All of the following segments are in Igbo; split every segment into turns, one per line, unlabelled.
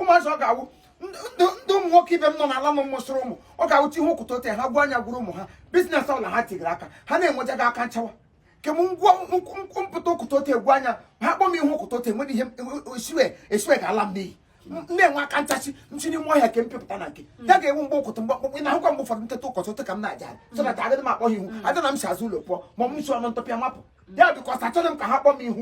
ụmụazị ọ ga-awụ ndị ụmụ nwoke ibe m nọ n'ala m mụsịrị ụmụ ọ ga-awụ ti ihe ụkwụta ote ha gwa anya gwuru ụmụ ha business ọbụla ha tigiri aka ha na-enwejaghị aka nchawa kem ngwa mpụta ụkwụta ote egwu anya ha kpọ m ihe ụkwụta ote nwere ihe esiwe esiwe ga-ala m n'iyi na-enwe aka nchachi nchi n'ime ọhịa nke mpịpụta na nke ya hmm. ga-enwe mgbe ụtụtụ mgbe ọkpụkpụ na ahụkwa mgbe ụfọdụ nteta ụkọchị ụtụ ka m na-aja so na agaghị m akpọ ha ihu hmm. ada na m si azụ ụlọ pụọ ma ọ m si ọnụ ntọpịa mapụ ya because achọghị m ka ha kpọọ m ihu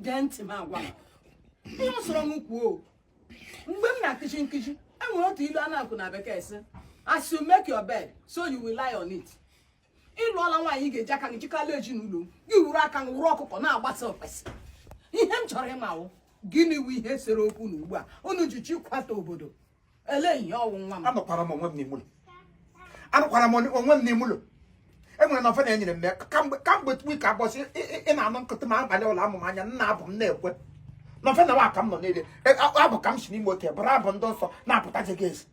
gee ntị m agwa ihe ọ sọrọ m kwuo mgbe m na-akuzi nkuzi enwere otu ilu a na-akụ na bekee sị as you make your bed so you will lie on it ịlụọla nwaanyị ị ga-eji aka gị jikala ezinụlọ gị were aka gị wụrụ ọkụkọ na-agbasa okpesi ihe m chọrọ ịma wụ gịnị wu ihe sere okwu na ugbu a unu ji chịkọta obodo ele ihe ọ wụ nwa m anọkwara m onwe m n'ime
ụlọ anọkwara m onwe m n'ime ụlọ enwere novena enyere m ya kamgbe kamgbe week abọ sị ị na-anụ nkụtụ ma abalị ụlọ amụm anya nna abụ m na-ekwe novena nwa ka m nọ niile e, abụ ka m si n'ime ote bụrụ abụ ndị nsọ na-apụtaje gị ezi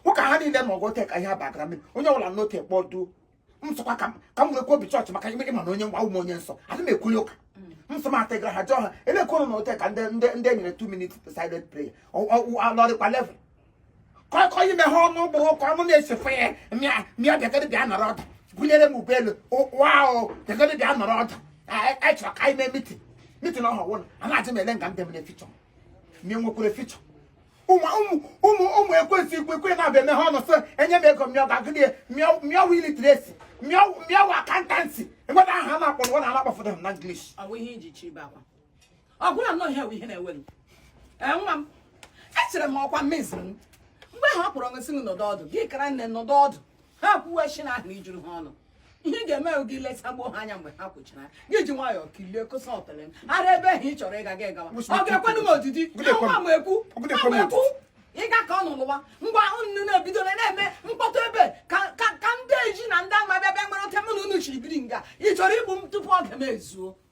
ụka ha niile na ọgụ ote ka ihe abagara mmiri onye ọbụla n'ote kpọduo m sịkwa ka ka m werekwa obi church maka ime ịma na onye nwa ụmụ onye nsọ adị m ekwuli ụka m sị m atịgara ha jụọ ha elekwerụ na ote ka ndị ndị ndị e nyere 2 minutes silent prayer alọrịkwa level kọkọ ime ha ọnụ ụgbọ ụka ọnụ na-esefe ya mịa mịa bịagoro bịa nọrọ ọdụ gụnyere m ụgbọelu waụ bịagoro bịa nọrọ ọdụ anyị chọrọ ka anyị mee meeting meeting ọha wụ a na-ajụ m ele nga m debere future ma ị nwekwara future ụmụ ekwensu ikwu ekwe na-abịa eme ha ọnụ sị enye m ego mịọ ga-agụdị ya ma ọ wụ literacy ma ọ wụ accountancy enweta aha a na-akpọ nwa na anakpọfụta na
English ọgwụla nnọọ ihe ihe na-ewe m nwa m echere m ọkwa mmezi m mgbe ha kpọrọ nsị m nọdụ ọdụ gị kara nne nọdụ ọdụ ha kwuwe nshị ahụ juru ha ọnụ ihe ị ga-eme gị leta gbuo ha anya mgbe ha kwụchara gị ji nwayọọ kilie kosa otele m ara ebe ahụ ị chọrọ ịga gị gawa ọ ga-ekwenụ m odidi nwa m ekwu nwa m ekwu ịga ka ọ nụlụwa ngwa unu na-ebidola na-eme mkpọtụ ebe ka ndị ezi na ndị ama bịa bịa mara ote mụ na unu shiri biri nga ị chọrọ igbu m tupu oge m ezuo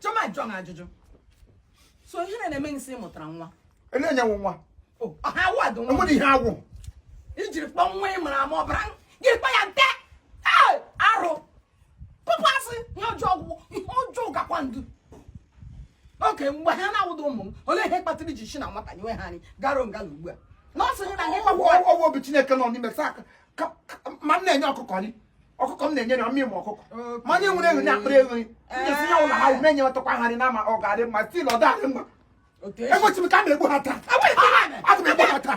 Chiọma jụọ m ajụjụ so ihe na na-eme nsị mụtara nwa elenyewo
nwa O, ọ ha award
nwa enwere ihe agwụ
ijiri
kpọ nwa ị mara ama ọbara gị kpa ya nte Ee, arụ pụpụ asị ihe ọjọọ ọgwụgwụ ihe ọjọọ gakwa ndu oke mgbe ha na-awụda ụmụ m olee ihe kpatara iji si na nwata nyewe ha anyị gara nga na ugbu a nurse hụ na ha ịkpakwa ọwụ obi chineke
nọ n'ime saa aka ma m na-enye ọkụkọ nri ọkụkọ m na-enye nri ọ mụ nwe ọkụkọ ma onye nwere ewu na-akpara ewu nri ndezi ya ụlọ ha m enyetụkwa ha nri na ma ọ ga-adị mma still ọ dị mma egbochi m ka a na-egbu ha taa aga m egbu ha taa